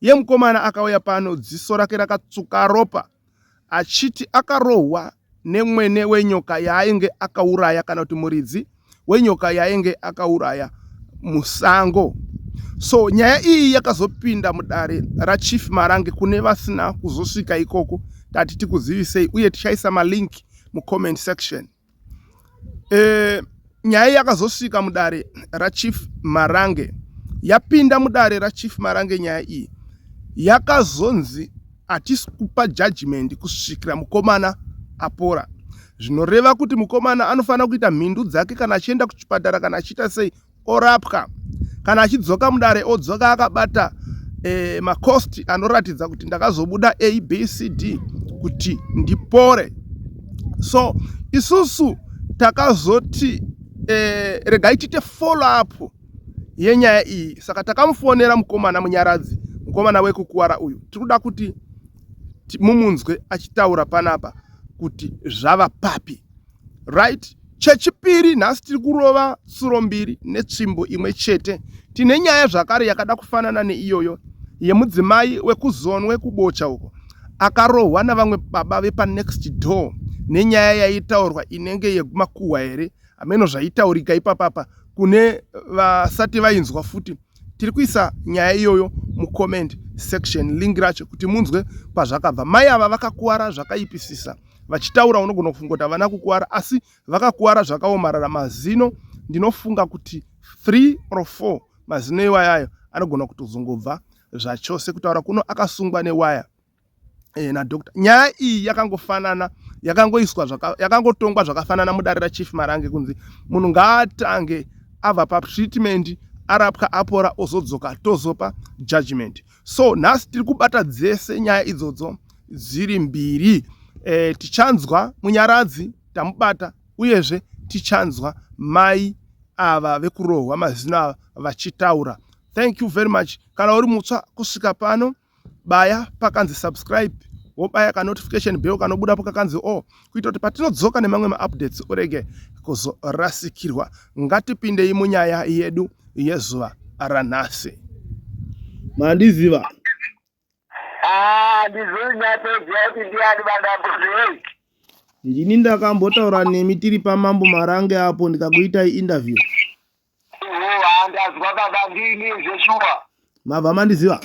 Iye mukomana akauya pano dziso rake rakatsuka ropa achiti akarohwa nemwene wenyoka yaainge akauraya kana kuti muridzi wenyoka yaainge akauraya musango so nyaya iyi yakazopinda mudare rachief marange kune vasina kuzosvika ikoko tati tikuzivisei uye tichaisa malinki mucomment section E, nyaya yakazosvika mudare rachief Marange yapinda mudare rachief Marange nyaya iyi yakazonzi hatisi kupa judgment kusvikira mukomana apora zvinoreva kuti mukomana anofanira kuita mhindu dzake kana achienda kuchipatara kana achiita sei orapwa kana achidzoka mudare odzoka akabata e, macost anoratidza kuti ndakazobuda abcd kuti ndipore so isusu takazoti e, regai tiite follow up yenyaya iyi saka takamufonera mukomana munyaradzi mukomana wekukuwara uyu tiri kuda kuti mumunzwe achitaura panapa kuti zvava papi right chechipiri nhasi tiri kurova tsuro mbiri netsvimbo imwe chete tine nyaya zvakare yakada kufanana neiyoyo yemudzimai wekuzonwe kubocha uko akarohwa navamwe baba vepanext door nenyaya yaitaurwa inenge yemakuhwa here hameno zvaitaurika ipapapa kune vasati vainzwa futi tiri kuisa nyaya iyoyo mucomment section link racho kuti munzwe kwazvakabva mai ava vakakuwara zvakaipisisa vachitaura unogona kufunga kuti havana kukuwara asi vakakuwara zvakaomarara mazino ndinofunga kuti 3 or 4 mazino iwayayo anogona kutozongobva zvachose kutaura kuno akasungwa newaya eh, nadoctor nyaya iyi yakangofanana yakangoiswa yakangotongwa zvakafanana mudare rachief marange kunzi munhu ngaatange ava patreatment arapwa apora ozodzoka tozopa judgment so nhasi tiri kubata dzese nyaya idzodzo dziri mbiri e, tichanzwa munyaradzi tamubata uyezve tichanzwa mai ava vekurohwa mazino ava vachitaura thank you very much kana uri mutswa kusvika pano baya pakanzi subscribe wobaya ka notification bell kanobuda po kakanzi o kuita kuti patinodzoka nemamwe maupdates urege kuzorasikirwa ngatipindei munyaya yedu yezuva ranhasi mandiziva ah, ndini ndakambotaura nemi tiri pamambo marange apo ndikakuitai interview ndanzwa baba ndini zveshuwa mabva mandiziva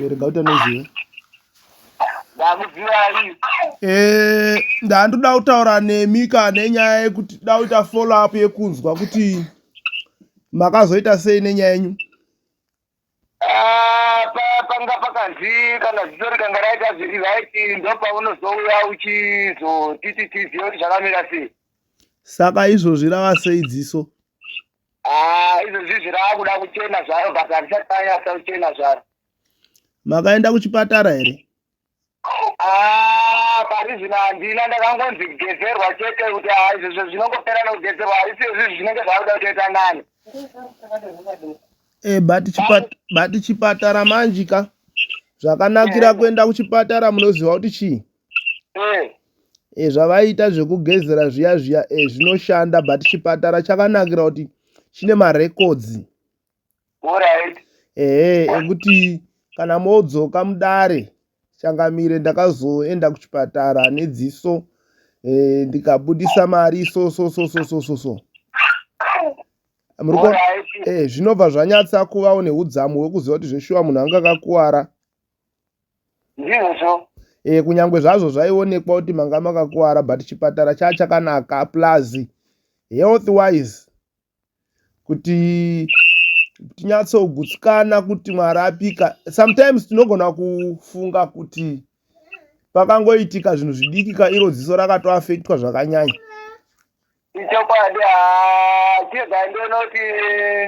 rega kuti anoziva eh, ndandoda kutaura nemi ka nenyaya yekuti da kuita follow up yekunzwa kuti makazoita sei nenyaya yenyu Ah, pa- panga pakanzi kana ziso rikanga raita zviri right ndopaunozouya uchizotiti tizive kuti zvakamira sei saka izvozvi rava sei dziso Ah, izvozvizvi raakuda kuchena zvaro but harisati ranyatsa kuchena zvaro makaenda kuchipatara here Ah, pari zvino handina ndakangonzi kugezerwa chete kuti ah, izvozvo zvinongopera nekugezerwa haisi izvizvi zvinenge zvakuda kutoita nani e, but chipat- but chipatara manje ka zvakanakira kuenda kuchipatara munoziva kuti chii Eh, e, zvavaiita zvekugezera zviya zviya e, zvinoshanda but chipatara chakanakira kuti chine marekodzi ehe ekuti kana modzoka mudare changamire ndakazoenda kuchipatara nedziso eh, ndikabudisa mari so so so so so so so Muriko, eh, zvinobva zvanyatsa kuvawo neudzamu hwekuziva kuti zveshuwa munhu anga akakuwara ndizvo eh, kunyange zvazvo zvaionekwa kuti manga makakuwara but chipatara chaa chakanaka plus health wise kuti tinyatsogutsikana kuti mwari apika sometimes tinogona kufunga kuti pakangoitika zvinhu zvidikika iro dziso rakatoafektwa zvakanyanya ichokwadi chega ndonoti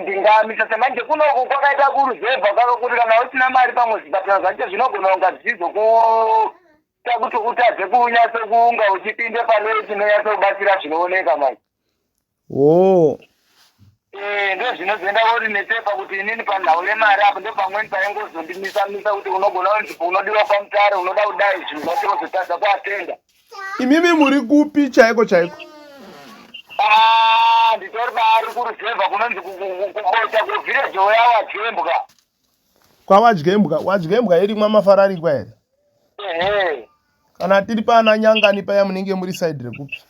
ndingamisa semanje kunoku kwakaita kuruzevha kwaka kuti kana usina mari pamwe zvipatara zvacho zvinogona kunga zvichizo ku kuita kuti utadze kunyatso kunga uchipinde pane chinonyatso kubatsira zvinooneka manje Woo. Eh, ndozvinozoenda vori nepepa kuti inini panhau yemari apo ndopamweni paingozondimisa misa kuti unogona kunzipo unodiwa pamutare unoda kudai zvinhu zvacho vozotadza kuatenda Imimi muri kupi chaiko chaiko? Ah, nditori baari kuruzevha kunonzi ku- ku- ku- kubocha kuvhireji weya wadzembwa Kwawadyembwa, wadyembwa iri mwamafararikwa here? ehe Kana tiri pana nyangani paya munenge muri side rekupi?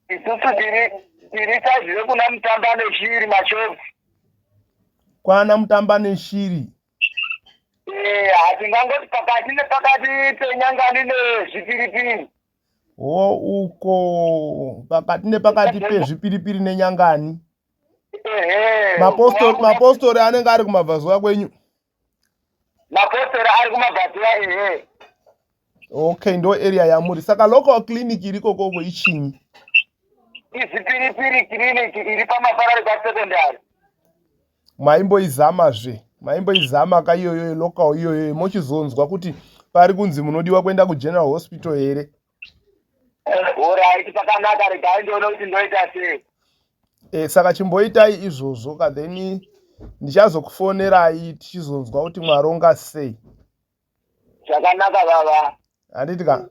isusu tiri tiri saizi rekuna mutamba neshiri machobs kwana mutamba neshiri Eh, hatingangoti pakati nepakati penyangani nezvipiripiri ho uko pakati nepakati pezvipiripiri nenyangani Ehe, mapostori mapostori anenge ari kumabvazuva kwenyu mapostori ari kumabhatira ehe okay ndo area yamuri saka local clinic iri kokoko ichinyi izipiripiri clinic iri pamafarari pasecondary maimboizamazve maimboizama ka iyoyo local iyoyo mochizonzwa kuti pari kunzi munodiwa kuenda kugeneral hospital here Alright, pakanaka regai ndione kuti ndoita sei. Eh, saka chimboitai izvozvo ka then ndichazokufonerai tichizonzwa kuti mwaronga sei. Zvakanaka baba. Handiti ka?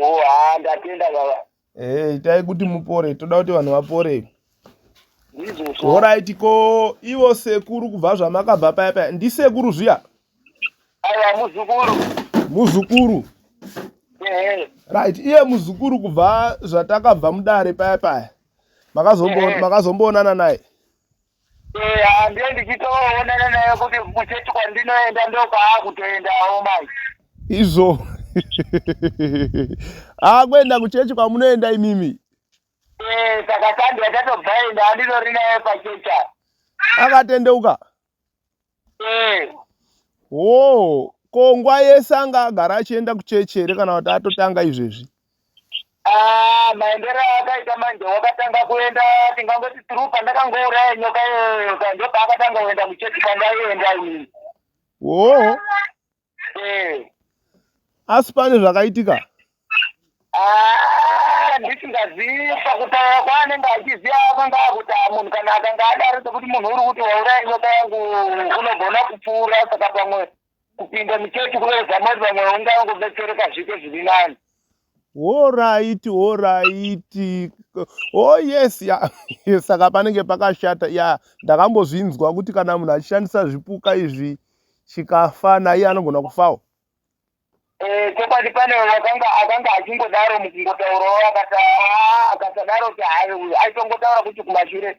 Oh, ha ndatenda baba. Eh, itai kuti mupore, toda kuti vanhu vapore. Ndizvo. Alright, ko ivo sekuru kubva zvamakabva paya paya, ndisekuru zviya? Aya muzukuru. Muzukuru. Ehe. Right, iye muzukuru kubva zvatakabva mudare paya paya. Makazombo Ehe. makazomboonana naye. Eh, handiye ndichitoonana naye kuti kuchechi kwandinoenda ndokwakutoendawo mai. Izvo. Ah, kwenda kuchechi kwamunoenda imimi. Eh, saka sandi yatatobva enda andidori naye pachecha. Akatendeuka. Eh. Oh, ko nguva yese anga agara achienda kuchechi here kana kuti atotanga izvezvi? Ah, maendero akaita manje wakatanga kuenda tingangoti tiri pandakangouraya nyoka iyoyo ka ndopaakatanga kuenda kuchechi kwandaienda ini. Oh, eh. asi pane zvakaitika ah, ndisingazivi pakutaura kwaanenge achiziva akanga akuti ah, munhu kana akanga adaro sekuti munhu uri kuti wauraya nyoka yangu unogona kupfuura saka pamwe kupinda muchechi kuvezamoti pamwe ungangobetsereka zvike zviri nani Horaiti horaiti oh yes ya saka panenge pakashata ya ndakambozvinzwa kuti kana munhu achishandisa zvipuka izvi chikafa naiye anogona kufawo eh, chokwadi pane akanga akanga achingodaro mukungotaurawo akati ah, akasadaro kuti hayi uyu aitongotaura kuti kumashure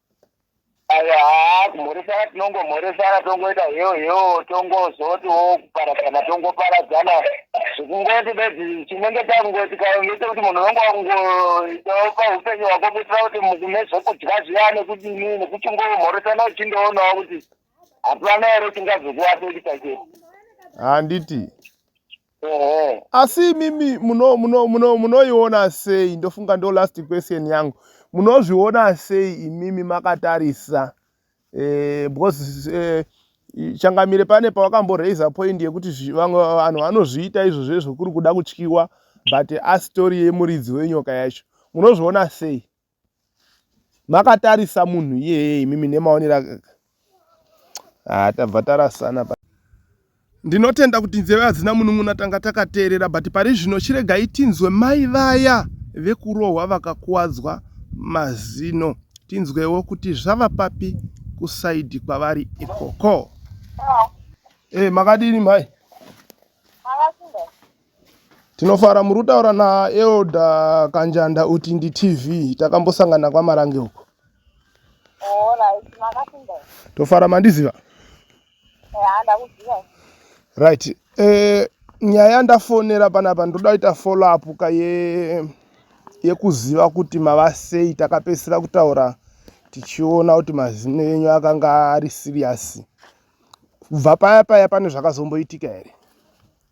haa kumhoresana tinongomhoresana tongoita hewo hewo tongozotiwo kuparadzana tongoparadzana zvekungoti bedzi chinenge chakungoti kainge chekuti munhu unenge wakungoitawo paupenyu hwako kuitira kuti mune zvekudya zviya nekudini nekuti ungomhoresana uchindoonawo kuti hapana here chingazokuwasekuita chete handiti ah, Ehe. asi imimi muno- muno- muno- munoiona sei ndofunga ndo last question yangu munozviona sei imimi makatarisa eh, because eh, i- changamire pane pawakamboraiser point yekuti zvi- vamwe vanhu vanozviita izvo zvezvo kuri kuda kutyiwa but astori yemuridzi wenyoka yacho munozviona sei makatarisa munhu iyeye imimi nemaonera ah, tabva tarasana pa ndinotenda kuti nzeve hadzina munun'una tanga takateerera but pari zvino chiregai tinzwe mai vaya vekurohwa vakakuwadzwa mazino tinzwewo kuti zvava papi kusaidi kwavari ikoko hey, eh, makadini mai Tinofara muri kutaura naElder Kanjanda Utindi TV. Takambosangana kwaMarange uko. Oh, right. Makasinda. Tofara mandiziva. Yeah, ndakuziva. Right. Eh, nyaya yandafonera panapa ndoda kuita follow up ka ye yekuziva kuti mava sei takapedzisira kutaura tichiona kuti mazino enyu akanga ari serious. Kubva paya paya pane zvakazomboitika here?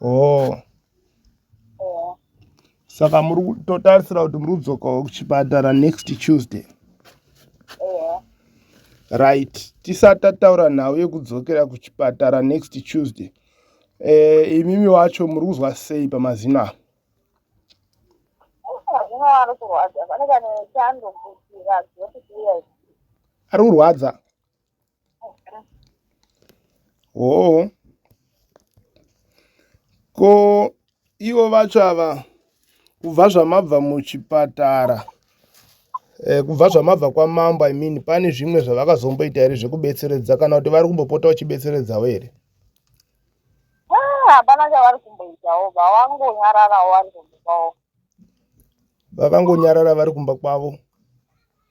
oh saka muri totarisira kuti muri kudzokawo kuchipatara next tuesday right tisati tataura nhau yekudzokera kuchipatara next tuesday eh, imimi wacho muri kuzwa sei pamazino avo ari kurwadza hoo ko ivo vacho ava kubva zvamabva muchipatara eh, kubva zvamabva kwamambo i mean pane zvimwe zvavakazomboita here zvekubetseredza kana kuti vari kumbopota vachibetseredzawo here ah, hapana chavari kumboitawo vavangonyararawo vari kumba kwavo vakangonyarara vari kumba kwavo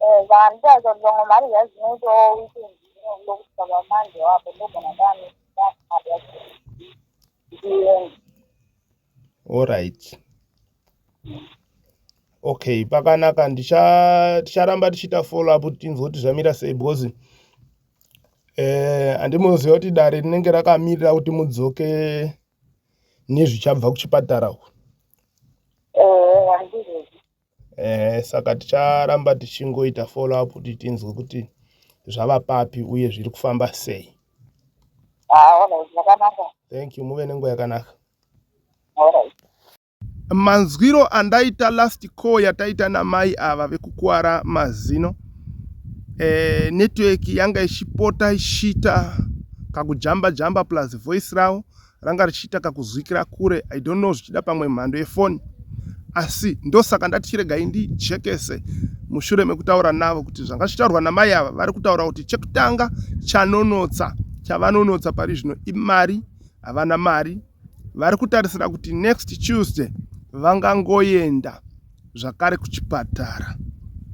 Eh, saka nditaridza kuti vamwe mari zvayo dzinoitawo weekend inobuda kusvika pamanje wapo ndogona ndane mari yacho ndichienda Alright. Okay, pakanaka ndicha ticharamba tichiita follow up tinzwe kuti zvamira sei because eh andimuziva kuti dare rinenge rakamirira kuti mudzoke nezvichabva kuchipatara uko. ehe saka ticharamba tichingoita follow up kuti tinzwe kuti zvava papi uye zviri kufamba sei thank you muve nenguva yakanaka manzwiro andaita last call yataita namai ava vekukwara mazino eh, network yanga ichipota ichiita kakujamba jamba plus voice ravo ranga richiita kakuzwikira kure i don't know zvichida pamwe mhando yefoni asi ndosaka ndati chiregai ndijekese mushure mekutaura navo kuti zvanga zvichitaurwa namai ava vari kutaura kuti chekutanga chanonotsa chavanonotsa pari zvino imari havana mari vari kutarisira kuti next tuesday vangangoenda zvakare kuchipatara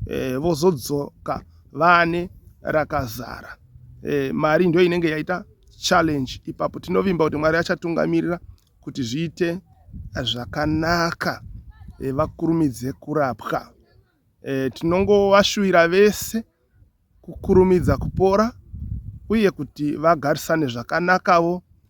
e, vozodzoka vane rakazara e, mari ndiyo inenge yaita challenge ipapo tinovimba kuti mwari achatungamirira kuti zviite zvakanaka e, vakurumidze kurapwa e, tinongovashuvira vese kukurumidza kupora uye kuti vagarisane zvakanakawo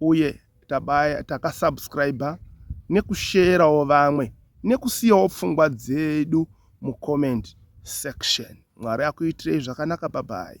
uye tabaya takasubscriber nekusherawo vamwe nekusiyawo pfungwa dzedu mucomment section mwari akuitirei zvakanaka babai